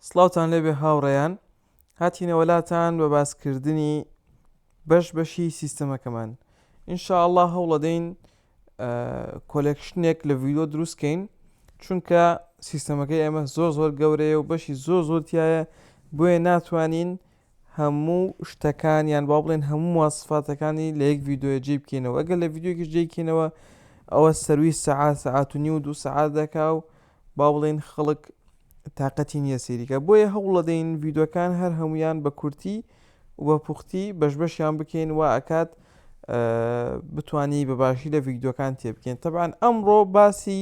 سڵاوتان لێبێ هاوڕێیان، هاتینەوە لاتان بە باس کردنی بەش بەشی سیستەمەکەمان. ان شاء اللە هەوڵەدەین کۆلێکشنێک لە ڤیدیۆ دروست کەین چونکە سیستەمەکەی ئێمە زۆر زۆر گەورەیە و بەشی زۆر زۆر تایە بۆیە ناتوانین هەموو شتەکان یان با بڵێن هەموو مواسفاتەکانی لە یەک ڤیدیۆیە جێی بکەینەوە ئەگەر لە ڤیدیۆکیش جێی کەینەوە ئەوە سەروی سەعات سەعات و نیو دوو سەعات دەکا و با بڵێن خەڵک تااقەتی نییە سەیریکە بۆیە هەوڵەدەین ڤیددیوەکان هەر هەمویان بە کورتی و بە پوختی بەش بەشیان بکەین و ئەکات بتانی بە باشی لە ڤیددیوەکان تێبکەین تەبان ئەمڕۆ باسی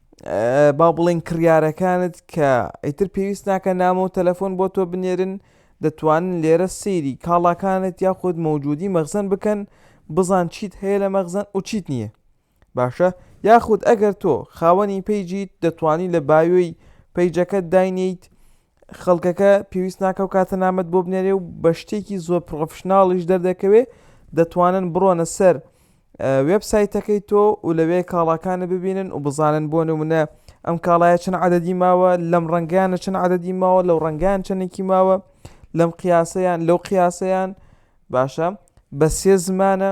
با بڵین کڕیارەکانت کە ئیتر پێویست ناکە نامۆ و تەلەفۆن بۆ تۆ بنێرن دەتوانن لێرە سەیری کاڵاکانت یاخود مەوجودی مەخزن بکەن بزان چیت هەیە لە مەخزن و چیت نییە باشە یاخود ئەگەر تۆ خاوەنی پەیجیت دەتوانی لە بایۆی پەیجەکەت داینیت خەڵکەکە پێویست ناکە و کاتە نامەت بۆ بنێرێ و بە شتێکی زۆر پڕۆفشناڵیش دەردەکەوێ دەتوانن بڕۆنە سەر وێب سایتەکەی تۆ و لەوێ کاڵاکانە ببینن و بزانن بۆ نمونە ئەم کاڵایە چەند عادەدی ماوە لەم ڕەنگیانە چەند عادەدی ماوە لەو ڕەنگان چەندێکی ماوە لەم قیاسەیان لەو قیاسەیان باشە بە سێ زمانە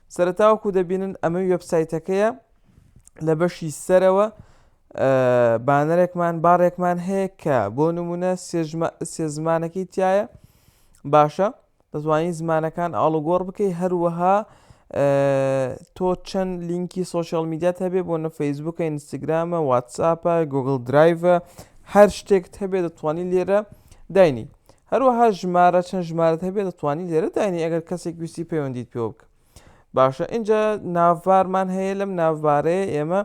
سەرەتا وەکو دەبینن ئەمەی وێبسایتەکەیە لە بەشی سەرەوە بانەرێکمان باڕێکمان هەیە کە بۆ نمونە سێ زمانەکەی تایە باشە دەتوانین زمانەکان ئاڵوگۆڕ بکەی هەروەها تۆ چەند لینکی سوۆشال میدیات هەبێ بۆ نە فەیسبوکە ئینستاگرامە واتساپە گوگل درایڤە هەر شتێکت هەبێ دەتوانین لێرە داینی هەروەها ژمارە چەند ژمارەت هەبێ دەتوانی لێرە داینی ئەگەر کەسێک ویستی پەیوەندیت پێوە بک باشە ئینجا ناڤبارمان هەیە لەم ناڤبارەیە ئێمە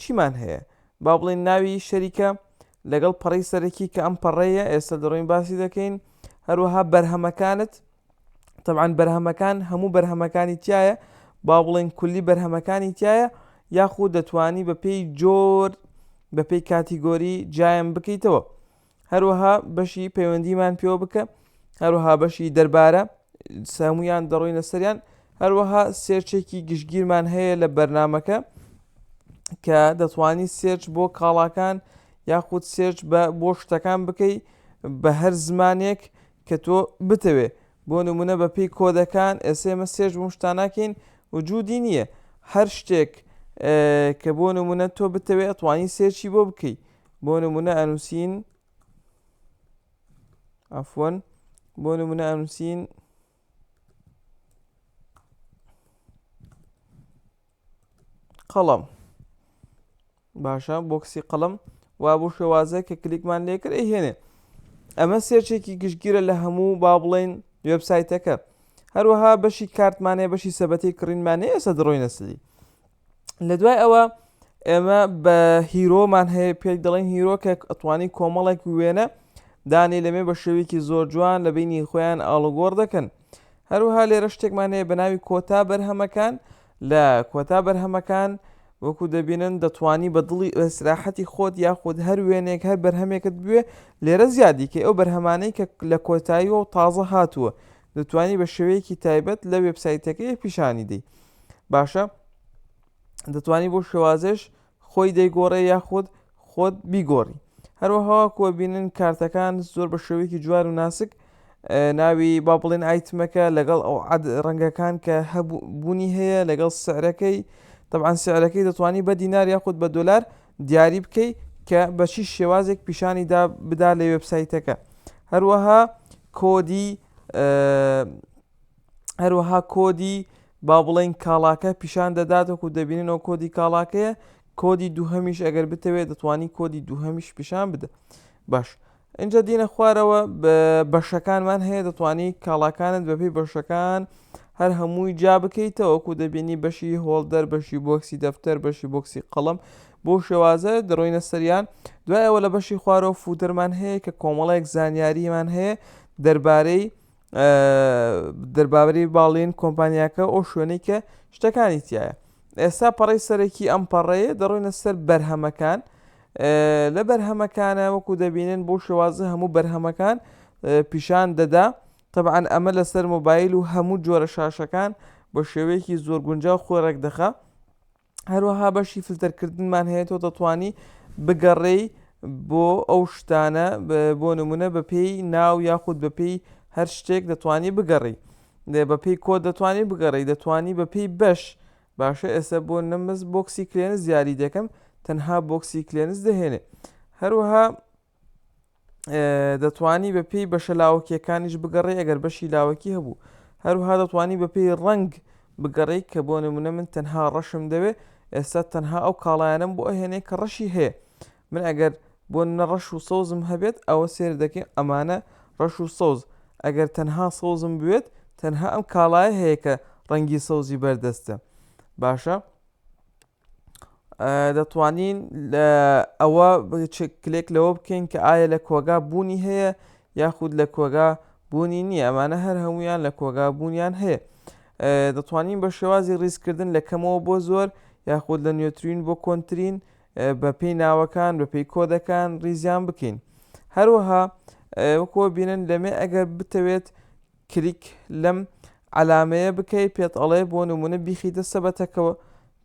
چیمان هەیە با بڵێن ناوی شەریکە لەگەڵ پەڕی سەرەکی کە ئەم پەڕەیە ئێستا دەڕۆین باسی دەکەین هەروەها بەرهەمەکانت طبعاان بەرهەمەکان هەموو بەرهەمەکانی تایە با بڵێن کولی بەرهەمەکانی تایە یاخود دەتوانی بە پێی جۆر بە پێی کاتیگۆری جیان بکەیتەوە هەروەها بەشی پەیوەندیمان پێوە بکە هەروەها بەشی دەربارە سامویان دەڕۆینە سەریان هەروەها سێرچێکی گشتگیرمان هەیە لە بەرنمەکە کە دەتوانی سێرچ بۆ کاڵاکان یاخود سێرچ بە بۆ شتەکان بکەی بە هەر زمانێک کە تۆ بتەوێ بۆ نمونە بە پێی کۆدەکان ئێسێمە سێرج بۆ شتاناکەین وجودی نییە هەر شتێک کە بۆ نمونە تۆ بتەوێت ئەتوانی سێرچی بۆ بکەیت بۆ نموونە ئەنووسین عەفوەن بۆ نموونە ئەنووسین قەڵەم باشە بۆکسی قەڵم وا بۆ شێوازە کە کلیکمان لێکرد هێنێ ئەمە سێرچێکی گشتگیرە لە هەموو با بڵین وبسایتەکە هەروەها بەشی کارتمانەیە بەشی سەبەتی کڕینمانەیە سە دڕۆی نەسلی لە دوای ئەوە ئێمە بە هیرۆمان هەیە پێک دەڵێن هیرۆ کە ئەتوانی کۆمەڵێک وێنە دانێ لەمێ بە شێوەیەکی زۆر جوان لە بینی خۆیان ئاڵوگۆڕ دەکەن هەروها لێرە شتێکمان هەیە بە ناوی کۆتا بەرهەمەکان لە کۆتا بەرهەمەکان وەکو دەبینن دەتوانی بە دڵی ئەسراحەتی خۆت یاخود هەر وێنێک هەر بەرهەمێکت بوێ لێرە زیادیکە ئەو بەرهەمانەی کە لە کۆتاییەوە تازە هاتووە دەتوانی بە شێوەیەکی تایبەت لە وێبسایتەکەی پیشانی دەی باشە دەتوانی بۆ شێوازێش خۆی دەیگۆڕێ یاخود خۆت بیگۆڕی هەروەها کۆبینن کارتەکان زۆر بە شێوەیەکی جوار و ناسک ناوی با بڵێن ئایتمەکە لەگەڵ ئەو ڕەنگەکان کە هەبوونی هەیە لەگەڵ سعرەکەی طبعاان سعرەکەی دەتوانانی بە دینار یاخود بە دلار دیاری بکەی کە بە چی شێوازێک پیشانی دا بدا لە وێبسایتەکە هەروەها کۆدی هەروەها کۆدی با بڵێن کاڵاکە پیشان دەدات وەکو دەبیننەوە کۆدی کاڵاکەیە کۆدی دووهەمیش ئەگەر بتەوێت دەتوانانی کۆدی دووهەمیش پیشان بدە باش ئینجا دینە خوارەوە بەشەکانمان هەیە دەتوانی کاڵاکانت بەپی بەشەکان هەر هەمووی جا بکەیتەوەکو دەبینی بەشی هۆڵدەر بەشی بۆکسی دەفتەر بەشی بۆکسی قەڵم بۆ شێوازە دەڕۆینە سەریان دوایەوە لە بەشی خوارەوە فوتەرمان هەیە کە کۆمەڵێک زانیاریمان هەیە دەربارەی دەربارەی باڵین کۆمپانیاکە و شوێنەی کە شتەکانی تیایە ئێستا پەڕی سەرەکی ئەم پەڕەیە دەڕۆینە سەر بەرهەمەکان لە بەرهەمەکانە وەکو دەبینن بۆ شێوازە هەموو بەرهەمەکان پیشان دەدا طبعاان ئەمە لەسەر مۆبایل و هەموو جۆرە شاشەکان بە شێوەیەکی زۆر گونجاو خۆی ڕێکدەخە هەروەها بەشی فلتەرکردنمان هەیە تۆ دەتوانی بگەڕێی بۆ ئەو شتانە بۆ نمونە بە پێی ناو یاخود بە پێی هەر شتێک دەتوانی بگەڕی بە پێی کۆ دەتوانی بگەڕی دەتوانی بە پێی بەش باشە ئێستا بۆ نەمز بۆکسی کلێنس زیاری دەکەم تەنها بۆکسی کلێنس دەهێنێ هەروەها دەتوانی بە پێی بەشە لاوەکیەکانیش بگەڕێ ئەگەر بەشی لاوەکی هەبوو هەروها دەتوانی بە پێی ڕنگ بگەڕێی کە بۆ نمونە من تەنها ڕەشم دەوێ ئێستا تەنها ئەو کاڵایانم بۆ ئەهێنێ کە ڕەشی هەیە من ئەگەر بۆ نە ڕەش و سەوزم هەبێت ئەوە سێر دەکەین ئەمانە ڕەش و سەوز ئەگەر تەنها سەوزم بوێت تەنها ئەم کاڵایە هەیە کە ڕەنگی سەوزی بەردەستە باشە دەتوانین ئەوە کلێک لەوە بکەین کە ئایا لە کۆگا بوونی هەیە یاخود لە کۆگا بوونی نییە ئەمانە هەر هەمویان لە کۆگا بوونیان هەیە دەتوانین بە شێوازی ڕیزکردن لە کەمەوە بۆ زۆر یاخود لە نوێترین بۆ کۆنتترین بە پێی ناوەکان بە پێی کۆدەکان ڕیزیان بکەین هەروەها وەکۆ بینن لەمێ ئەگەر بتەوێت کلیک لەم عەلامەیە بکەی پێت ئەڵێ بۆ نمونە بیخیتە سەبەتەکەوە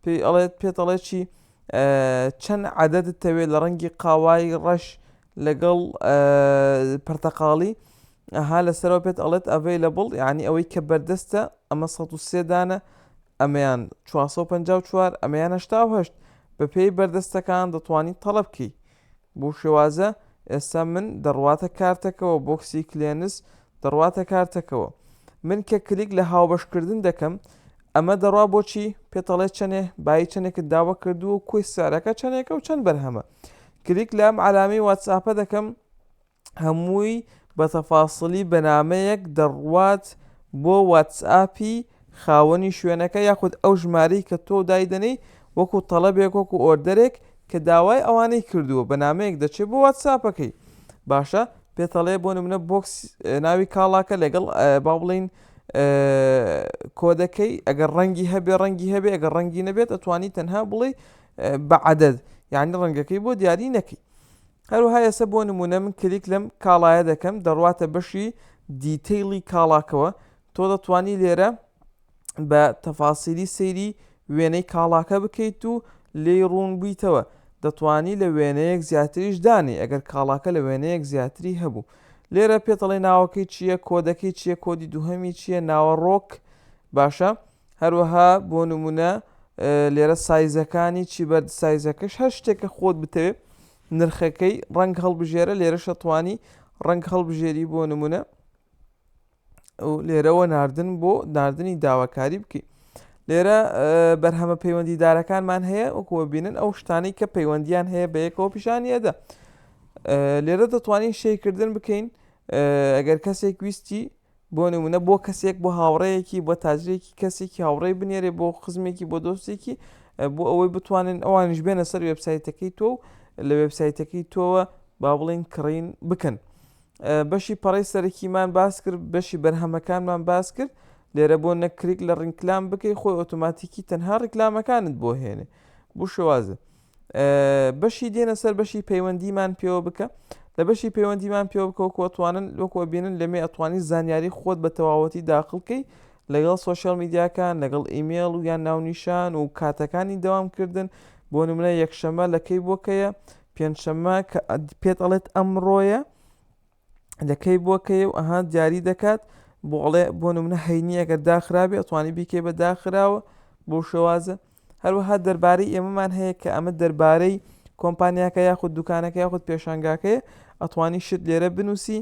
پێی ئەڵێت پێت ئەڵێ چی چەند عەدەدت تەوێت لە ڕەنگی قاوای ڕەش لەگەڵ پرتەقاڵی ئەها لەسەرەوە پێت ئەڵێت ئەڤەی لە بڵ یعنی ئەوەی کە بەردەستە ئەمە ١سێ دانە ئەمەیان 454 ئەمەیان هەشتاهشت بەپێی بەردەستەکان دەتوانانی تەڵەبکەی بو شێوازە ئێستا من دەڕواتە کارتەکەوە بۆکسی کلێنس دەڕواتە کارتەکەوە من کە کلیک لە هاوبەش کردن دەکەم ئەمە دەڕوا بۆچی پێتەڵێ چەنێ بای چەنێکت داوە کردووە کۆی سارەکە چەنێکە و چەند بەرهەمە کلیک لام علامی واتساپە دەکەم هەمووی بە تەفاسڵی بە نامەیەک دەڕوات بۆ واتسئاپی خاوەنی شوێنەکە یاخود ئەو ژمارەی کە تۆ دایدەنێی وەکو تەڵەبێک وەکو ئۆردەرێک کە داوای ئەوانەی کردووە بە نامەیەک دەچێت بۆ واتسئاپەکەی باشە پێتەڵێ بۆ نمونە بۆکس ناوی کاڵاکە لەگەڵ با بڵین کۆدەکەی ئەگەر ڕەنگی هەبێ ڕەنگی هەبێ ئەگەر ڕەنگی نەبێت ئەتوانی تەنها بڵێ بە عدد یعنی ڕەنگەکەی بۆ دیاری نەکەی هەروەها ئێسە بۆ نمونە من کلیک لەم کاڵایە دەکەم دەڕواتە بەشی دیتەیڵی کاڵاکەوە تۆ دەتوانی لێرە بە تەفاسیلی سەیری وێنەی کاڵاکە بکەیت و لێی ڕوون بویتەوە دەتوانی لە وێنەیەک زیاتریش دانی ئەگەر کاڵاکە لە وێنەیەک زیاتری هەبوو لێرە پێتەڵی ناوەکەی چییە کۆدەکەی چییە کۆدی دووهەمی چییە ناوەڕۆک باشە هەروەها بۆ نمونە لێرە سایزەکانی چی بەرد سایزەکەش هەر شتێکە خۆت بتەوێ نرخەکەی ڕنگ هەڵبژێرە لێرە شەتوانی ڕنگ هەڵبژێری بۆ نمونە و لێرەوە ناردن بۆ ناردنی داواکاری بکەیت لێرە بەرهەمە پەیوەندیدارەکانمان هەیە وەکووە بینن ئەو شتانی کە پەیوەندیان هەیە بە یەکەوە پیشانی ئەدا لێرە دەتوانین شەیکردن بکەین ئەگەر کەسێک ویستی بۆ نمونە بۆ کەسێک بۆ هاوڕێیەکی بۆ تاجرێکی کەسێکی هاوڕێی بنێرێ بۆ خزمێکی بۆ دۆستێکی بۆ ئەوەی بتوانن ئەوانیش بێنە سەر وێبسایتەکەی تۆ و لە وێبسایتەکەی تۆوە با بڵین کڕین بکەن بەشی پەڕی سەرەکیمان باس کرد بەشی بەرهەمەکانمان باس کرد لێرە بۆ نەکریک لە ڕینکلام بکەی خۆی ئۆتۆماتیکی تەنها ڕیکلامەکانت بۆ هێنێ بوو شێوازە بەشی دێنە سەر بەشی پەیوەندیمان پێوە بکە لە بەشی پەیوەندیمان پێوە بکەوە کۆتوانن وەکوە بینن لەمێ ئەتوانی زانیاری خۆت بە تەواوەتی داخڵکەی لەگەڵ سوۆشیال میدیاکان لەگەڵ ئیمێڵ و یان ناونیشان و کاتەکانی داوامکردن بۆ نمونە یەکشەمە لەکەی بۆکەیە پێنجشەمە کە پێت ئەڵێت ئەمڕۆیە لە کەی بۆ کەی و ئەها دیاری دەکات بۆ ئەڵێ بۆ نمونە هەینی ئەگەر داخرابێ ئەتوانی بیکەی بە داخراوە بۆ شێوازە هەروەها دەربارەی ئێمەمان هەیە کە ئەمە دەربارەی کۆمپانیاکە یاخود دوکانەکە یاخود پێشانگاکەیە ئەتوانی شت لێرە بنووسی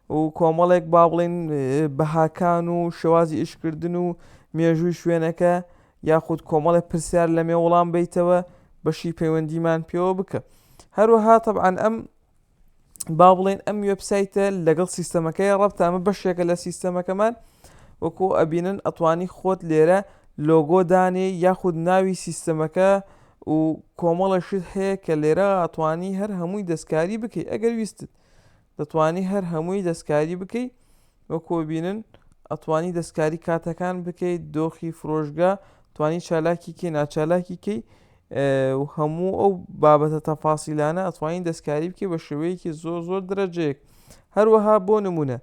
و کۆمەڵێک با بڵین بەهاکان و شێوازی ئیشکردن و مێژووی شوێنەکە یاخود کۆمەڵێک پرسیار لە مێ وڵام بیتەوە بەشی پەیوەندیمان پێوە بکە هەروەها طبعاان ئەم با بڵێن ئەم وێبسایتە لەگەڵ سیستەمەکەی ڕەبتە ئەمە بەشێکە لە سیستەمەکەمان وەکو ئەبینن ئەتوانی خۆت لێرە لۆگۆ دانێ یاخود ناوی سیستەمەکە و کۆمەڵەشت هەیە کە لێرە ئەتوانی هەر هەمووی دەستکاری بکەیت ئەگەر ویستت دەتوانی هەر هەمووی دەستکاری بکەیت وەکو بینن ئەتوانی دەستکاری کاتەکان بکەیت دۆخی فرۆشگا توانی چالاکی کەی ناچالاکی کەی و هەموو ئەو بابەتە تەفاسیلانە ئەتوانین دەستکاری بکەی بە شێوەیەکی زۆر زۆر درەجەیەک هەروەها بۆ نمونە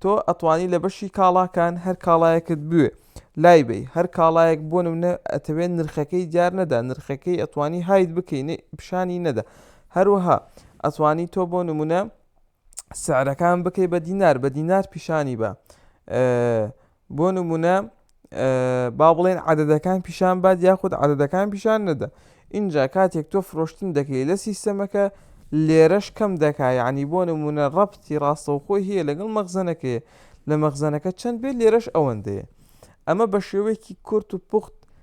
تۆ ئەتوانی لە بەشی کاڵاکان هەر کاڵایەکت بوێ لای بی هەر کاڵایەک بۆ نمونە ئەتەوێت نرخەکەی دیار نەدا نرخەکەی ئەتوانی هایت بکەین پیشانی نەدا هەروەها ئەتوانی تۆ بۆ نمونە سعرەکان بکەی بە دینار بە دینار پیشانی بە بۆ نمونە با بڵێن عادەدەکان پیشان باد یاخود عادەدەکان پیشان نەدە اینجا کاتێک تۆ فرۆشتن دەکەی لە سیستەمەکە لێرەش کەم دەکا یعنی بۆ نمونە ڕەبتی ڕاستەوخۆی هەیە لەگەڵ مەخزەنەکەی لە مەخزەنەکە چەند بێت لێرەش ئەوەندەیە ئەمە بە شێوەیەکی کورت و پوخت